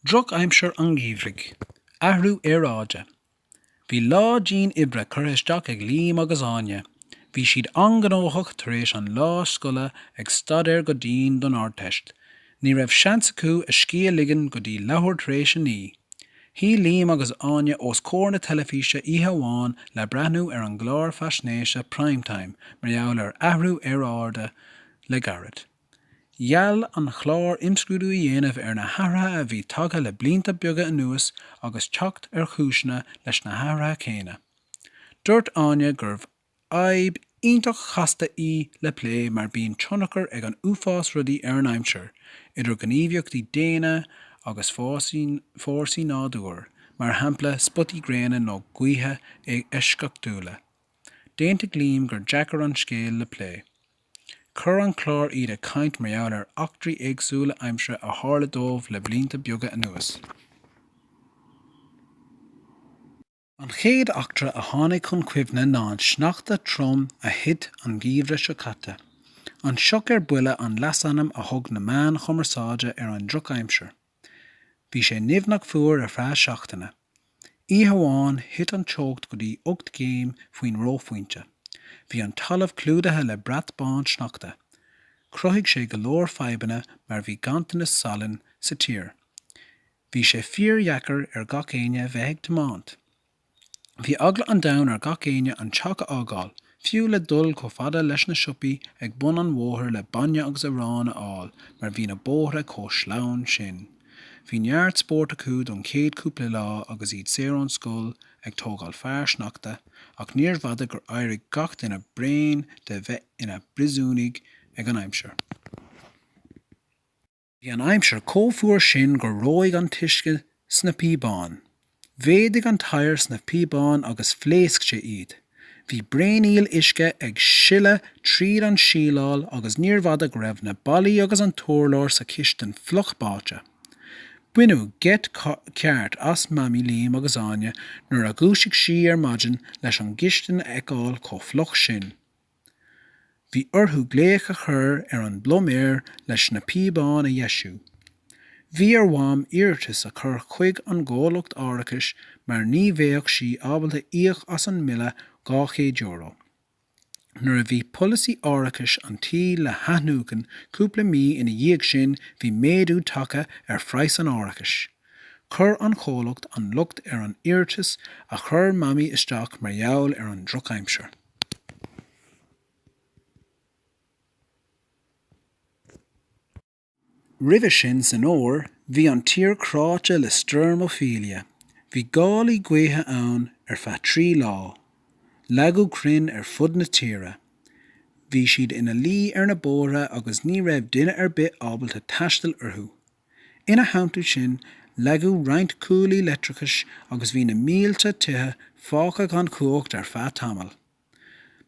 Droch aimsir an gheimhridh. Athrú aeráide. Bhí lá dian oibre curtha isteach ag Liam agus Áine. Bhí siad an-gnóthach tar éis an lá scoile ag staidéar go dian don Ardteist. Ní raibh seans acu a scíth a ligean go dtí leathuair tar éis a naoi. Shuigh Liam agus Áine os comhair na teilifíse oíche amháin le breathnú ar an gclár faisnéise Primetime mar gheall ar athrú aeráide le gairid. Gheall an clár imscrúdú a dhéanamh ar na hathruithe a bhí tagtha le blianta beaga anuas agus teacht ar chúiseanna leis na hathruithe céanna. Dúirt Áine gurbh fhadhb iontach chasta í le plé mar bíonn tionchar ag an uafás rudaí ar an aimsir, idir ghníomhaíochtaí daonna agus fórsaí nádúir, mar shampla spotaí gréine nó gaotha eisceachtúla. D'aontaigh Liam gur deacair an scéal é le plé. Chuir an clár iad ag caint mar gheall ar eachtraí éagsúla aimsire a tharla dóibh le blianta beaga anuas. An chéad eachtra a tháinig chun cuimhne ná an sneachta trom a thit an Geimhreadh seo caite. An Sioc ar Buile an leasainm a thug na meáin chumarsáide ar an drochaimsir. Bhí sé nimhneach fuar ar feadh seachtaine. Oíche amháin thit an teocht go dtí ocht gcéim faoin reophointe. Bhí an talamh clúdaithe le brat bán sneachta. Chruthaigh sé go leor fadhbanna mar bhí ganntanas salainn sa tír. Bhí sé fíordheacair ar gach éinne bheith ag tiomáint. Bhí eagla an domhain ar gach éinne an teach a fhágáil, fiú le dul chomh fada leis na siopaí ag bun an bhóthair le bainne agus arán a fháil mar bhí na bóithre chomh sleamhain sin. Bhí neart spóirt acu don chéad cúpla lá agus iad saor ón scoil ag tógáil fear sneachta ach níorbh fhada gur éirigh gach duine bréan de bheith ina bpríosúnaigh ag an aimsir. Bhí an aimsir chomh fuar sin gur reoigh an t-uisce sna píobáin. Mhéadaigh an t-oighear sna píobáin agus phléasc sé iad. Bhí braonaíl uisce ag sileadh tríd an síleáil agus níorbh fhada go raibh na ballaí agus an t-urlár sa chistin fliuch báite. Baineadh geit ceart as Mamaí Liam agus Áine nuair a dhúisigh sí ar maidin leis an gcistin a fheiceáil chomh fliuch sin. Bhí orthu glaoch a chur ar an bpluiméir leis na píobáin a dheisiú. Bhí ar Mham iarratas a chur chuig an gcomhlacht árachais mar ní bheadh sí ábalta íoc as an mbille €200. Nuair a bhí polasaí árachais an tí le hathnuachan cúpla mí ina dhiaidh sin bhí méadú tagtha ar phraghas an árachais. Chuir an chomhlacht an locht ar an iarratas a chuir Mamaí isteach mar gheall ar an drochaimsir. Roimhe sin san Fhómhar bhí an tír cráite le stoirm Ophelia. Bhí gálaí gaoithe ann ar feadh trí lá. Leagadh crainn ar fud na tíre. Bhí siad ina luí ar na bóithre agus ní raibh duine ar bith ábalta taisteal orthu. Ina theannta sin, leagadh roinnt cuaillí leictreachais agus bhí na mílte tithe fágtha gan chumhacht ar feadh tamaill.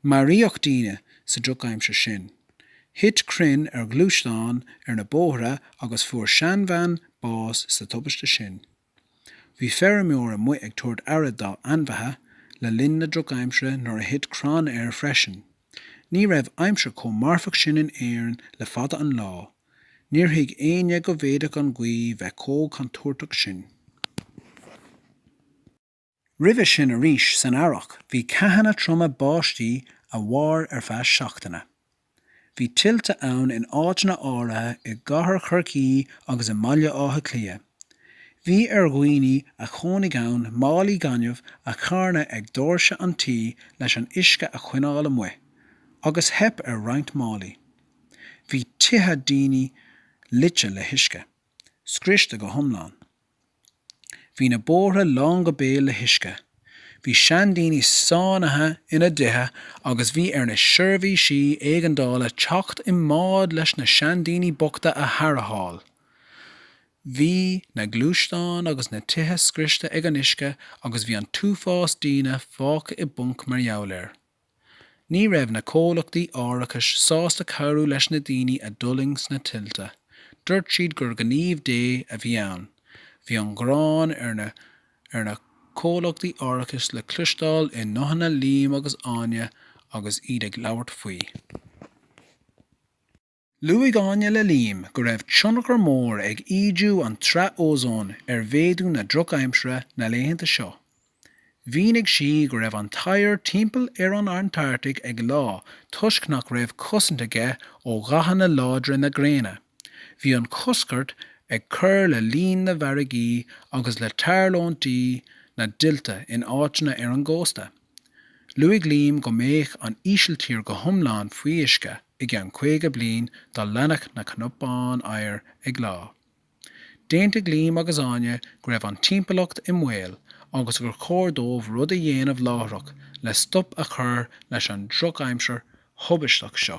Maraíodh daoine sa drochaimsir sin. Thit crainn ar ghluaisteáin ar na bóithre agus fuair seanbhean bás sa tubaiste sin. Bhí feirmeoir amuigh ag tabhairt aire dá ainmhithe le linn na drochaimsire nuair a thit crann air freisin. Ní raibh aimsir chomh marfach sin in Éirinn le fada an lá. Níor thuig éinne go bhféadfadh an ghaoth bheith chomh contúirteach sin. Roimhe sin arís san Earrach bhí ceathanna troma báistí a mhair ar feadh seachtaine. Bhí tuilte ann in áiteanna áirithe i gCathair Chorcaí agus i mBaile Átha Cliath. Bhí ar dhaoine a chónaigh ann málaí gainimh a charnadh ag doirse an tí leis an uisce a choinneáil amuigh, agus theip ar roinnt málaí. Bhí tithe daoine loite le huisce. scriosta go hiomlán. Bhí na bóithre lán go béal le huisce. Bhí seandaoine sáinnithe ina dtithe agus bhí ar na seirbhísí éigeandála teacht i mbád leis na seandaoine bochta a tharrtháil. Bhí na gluaisteáin agus na tithe scriosta ag an uisce agus bhí an t-uafás daoine fágtha i bponc mar gheall air. Ní raibh na comhlachtaí árachais sásta cabhrú leis na daoine a d'fhulaing sna tuilte. Dúirt siad gur gníomh Dé a bhí ann. Bhí an ghráin ar na ar na comhlachtaí árachais le cloisteáil i nguthanna Liam agus Áine agus iad ag labhairt faoi. Luaigh Áine le Liam go raibh tionchar mór ag ídiú an tsraithe ózóin ar mhéadú na drochaimsire na laethanta seo. Mhínigh sí go raibh an t-oighear timpeall ar an Antartaigh ag leá toisc nach raibh cosaint aige ó ghathanna láidre na gréine. Bhí an choscairt ag cur le líon na bhfarraigí agus le tarlúintí na dtuilte in áiteanna ar an gcósta. Luaigh Liam go mbeadh an Ísiltír go hiomlán faoi uisce i gceann 50 bliain dá leanfadh na cnapáin oighir ag leá. D'aontaigh Liam agus Áine go raibh an timpeallacht i mbaol agus gur chóir dóibh rud a dhéanamh láithreach le stop a chur leis an drochaimsir thubaisteach seo.